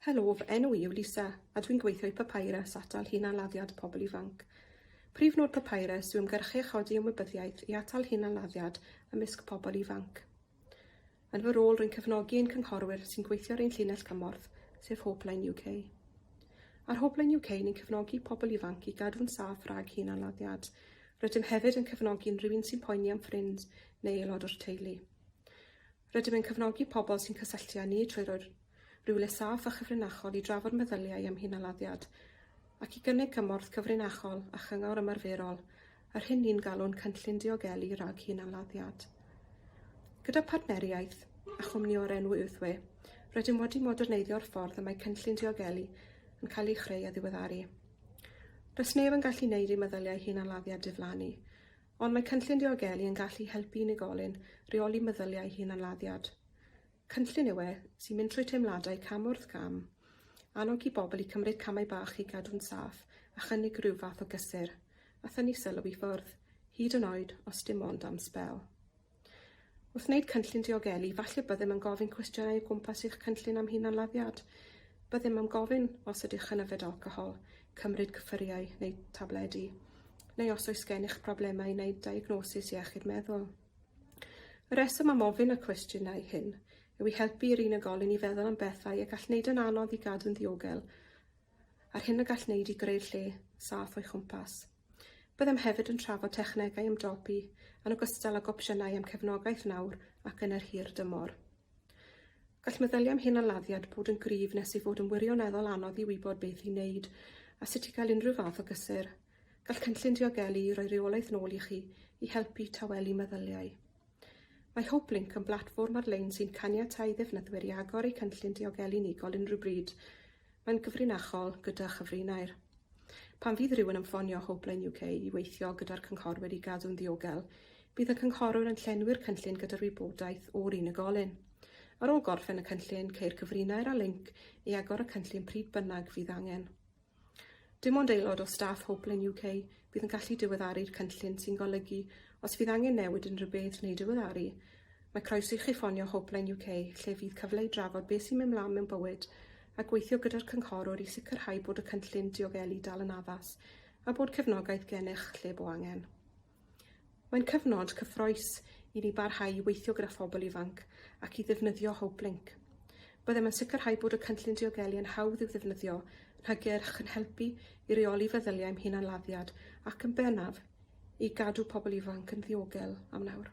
Helo, fy enw i yw Lisa, a dwi'n gweithio i Papyrus atal hunan-laddiad pobl ifanc. Prif nod Papyrus yw ymgyrchu a chodi ymwybyddiaeth i atal hunan-laddiad ymysg pobl ifanc. Yn fy rôl, rwy'n cefnogi ein cynghorwyr sy'n gweithio ar ein llinell gymorth, sef Hopeline UK. Ar Hopeline UK, ni'n cefnogi pobl ifanc i gadw'n saff rhag hunan-laddiad. Rydym hefyd yn cefnogi unrhyw un sy'n poeni am ffrind neu aelod o'r teulu. Rydym yn cefnogi pobl sy'n cysylltu â ni trwy roi'r rywle saff a chyfrinachol i drafod meddyliau am hunaladdiad ac i gynnig cymorth cyfrinachol a chyngor ymarferol, yr hyn ni'n galw'n Cynllun Diogelu rhag Hunaladdiad. Gyda phartneriaeth a chwmni o'r enw Earthway, rydym wedi moderneiddio'r ffordd y mae Cynllun Diogelu yn cael ei chreu a ddiweddaru. Does neb yn gallu neud ei meddyliau hunaladdiad diflannu, Ond mae Cynllun Diogelu yn gallu helpu unigolyn reoli meddyliau hunanladdiad. Cynllun yw e sy'n mynd trwy teimladau cam wrth gam, annog i bobl i cymryd camau bach i gadw'n saff a chynnig rhyw fath o gysur, a thynnu sylw i ffwrdd, hyd yn oed os dim ond am sbel. Wrth wneud cynllun diogelu, falle byddem yn gofyn cwestiynau o gwmpas eich cynllun am hunanladdiad. Byddem am gofyn os ydych yn yfed alcohol, cymryd cyffuriau neu tabledi, neu os oes gennych broblemau neu diagnosis iechyd meddwl. Y rheswm am ofyn y cwestiynau hyn yw i helpu i'r unigolyn i feddwl am bethau y gall wneud yn anodd i gadw'n ddiogel a'r hyn y gall wneud i greu'r lle saff o'i chwmpas. Byddem hefyd yn trafod technegau ymdopi, yn ogystal ag opsiynau am cefnogaeth nawr ac yn yr hir dymor. Gall meddyliau am hunanladdiad bod yn gryf nes ei fod yn wirioneddol anodd i wybod beth i wneud a sut i gael unrhyw fath o gysur. Gall Cynllun Diogelu roi rheolaeth nôl i chi i helpu tawelu meddyliau. Mae HopeLink yn blatfform ar-lein sy'n caniatáu i ddefnyddwyr i agor eu cynllun diogelu unigol unrhyw bryd. Mae'n gyfrinachol gyda chyfrinair. Pan fydd rhywun yn ffonio HopeLine UK i weithio gyda'r cynghorwyr i gadw'n ddiogel, bydd y cynghorwr yn llenwi'r cynllun gyda'r wybodaeth o'r unigolyn. Ar ôl gorffen y cynllun, ceir cyfrinair a linc i agor y cynllun pryd bynnag fydd angen. Dim ond aelod o staff Hopelane UK fydd yn gallu diweddaru'r cynllun sy'n golygu os fydd angen newid unrhyw beth neu diweddaru, mae croeso i chi ffonio Hopelane UK lle fydd cyfle i drafod beth sy'n mynd 'mlaen mewn bywyd a gweithio gyda'r cynghorwr i sicrhau bod y cynllun diogelu dal yn addas a bod cefnogaeth gennych lle bo angen. Mae'n cyfnod cyffrous i ni barhau i weithio gyda phobl ifanc ac i ddefnyddio HopeLink. Byddem yn sicrhau bod y Cynllun Diogelu yn hawdd i'w ddefnyddio, yn hygyrch, yn helpu i reoli feddyliau'm hunanladdiad ac, yn bennaf, i gadw pobl ifanc yn ddiogel am nawr.